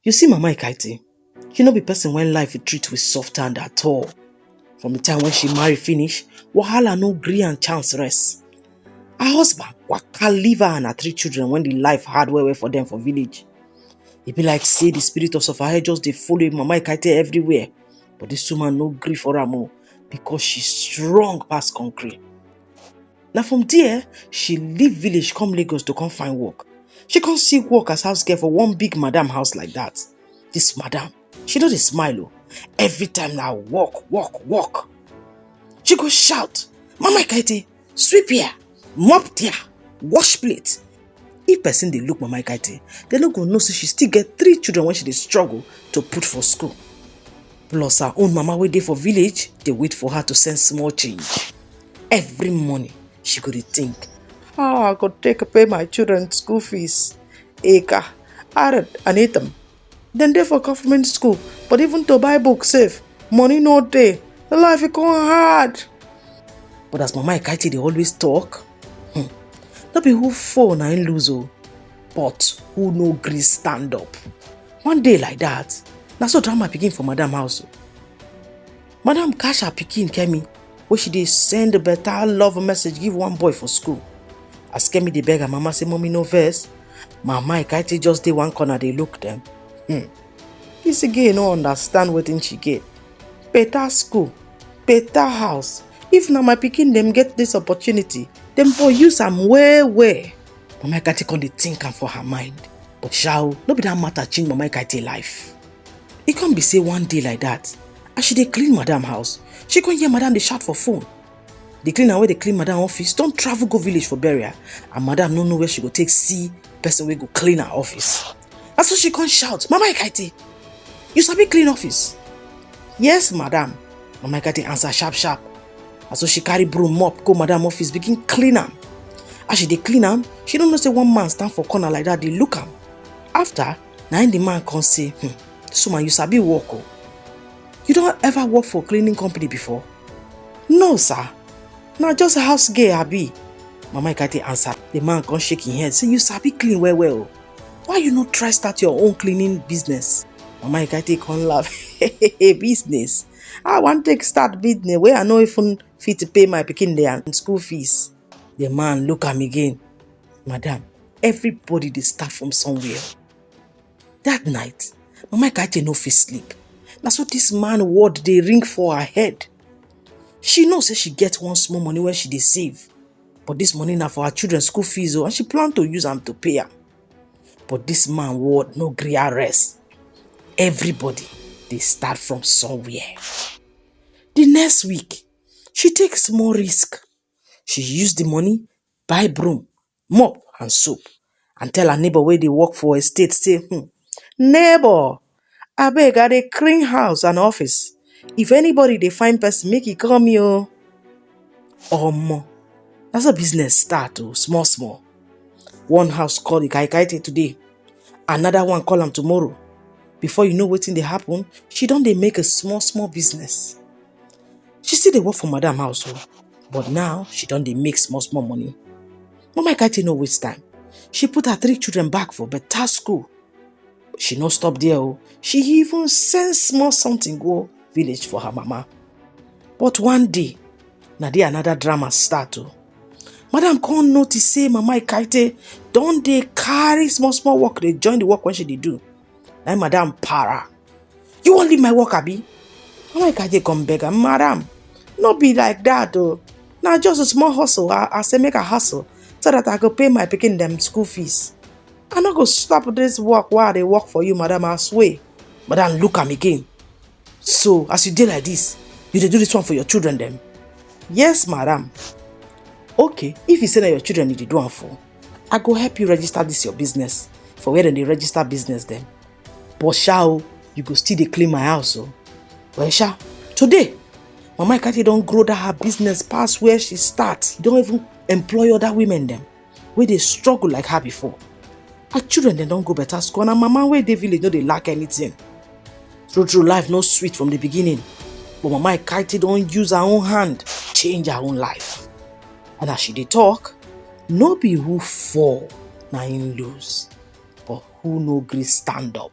You see Mama Ikaiti, she no be person when life will treat with soft hand at all. From the time when she marry finish, wahala no gree and chance rest. Her husband waka leave her and her three children when the life hard well well for them for village. E be like say the spirit of Sofahe just dey follow Mama Ikaiti everywhere. But this woman no gree for am o because she strong pass concrete. na from there she leave village come lagos to come find work she come see work as house girl for one big madam house like that this madam she no dey smile o every time na work work work she go shout mama ikaete sweep here mop there wash plate if person dey look mama ikaite dem no go know say she still get three children wey she dey struggle to put for school plus her own mama wey dey for village dey wait for her to send small change every morning she go dey think how i go take pay my children school fees eka arid and itam dem dey for government school but even to buy book save money no dey life e come hard but as mama ikaiti dey always talk hmm, no be who fall na im lose o oh, but who no gree stand up one day like that na so drama begin for madam house o oh. madam catch her pikin kemi wey she dey send better love message give one boy for school as kemi dey beg her mama say mommy no vex mama ikaiti just dey one corner dey look dem hmm. this girl no understand wetin she get better school better house if na my pikin dem get this opportunity dem for use am well well mama ikaiti come dey think am for her mind but shao no be that matter change mama ikaiti life e come be say one day like that as she dey clean madam house she come hear madam dey shout for phone the cleaner wey dey clean madam office don travel go village for burial and madam no know where she go take see person wey go clean her office na so she come shout mama ikaiti you sabi clean office yes madam mama ikaiti answer sharp sharp na so she carry broom mop go madam office begin clean am as she dey clean am she no know say one man stand for corner like that dey look am after na im the man come say hmm, this woman you sabi work o oh. you don ever work for cleaning company before no sir na just a house girl abi mama ikate answer the man come shake him head say you sabi clean well well o oh. why you no try start your own cleaning business mama ikate come laugh business i wan take start business wey i no even fit pay my pikin their school fees the man look am again Madam, everybody dey start from somewhere. That night, Mama Ikaje no fit sleep. Na so this man word dey ring for her head. She know say she get one small money wey she dey save. But this money na for her children school fees o and she plan to use am to pay am. But this man word no gree her rest. Everybody dey start from somewhere. The next week, she take small risk. She use the money buy broom, mop and soap and tell her neighbor wey dey work for estate say um neighbor abeg I dey clean house and office if anybody dey find person make e call me o. Omo na so business start o small small. One house call the kai kai till today, another one call am tomorrow before you know wetin dey happen she don dey make a small small business. she still dey work for madam house o but now she don dey make small small money mama ikachi no waste time she put her three children back for better school but she no stop there o she even send small something go village for her mama but one day na there another drama start o madam come notice say mama ikaite don dey carry small small work dey join the work wey she dey do na im madam para you wan leave my work abi na why kaje come beg am madam no be like that o na just a small hustle i i say make i hustle so that i go pay my pikin dem school fees i no go stop this work wey i dey work for you madam i swear madam look am again So, as you dey like this, you dey do this one for your children dem? Yes, madam. Okay, if you say na your children you dey do am for, I go help you register this your business for where dem dey register business dem. But sha o, you go still dey clean my house o. Well sha, today, Mama Ikati don grow that her business pass where she start. Don even employ other women dem. wey dey struggle like her before her children dem don go better school and her mama wey dey village no dey lack anything true true life no sweet from the beginning but mama ikaiti don use her own hand change her own life and as she dey talk no be who fall na im lose but who no gree stand up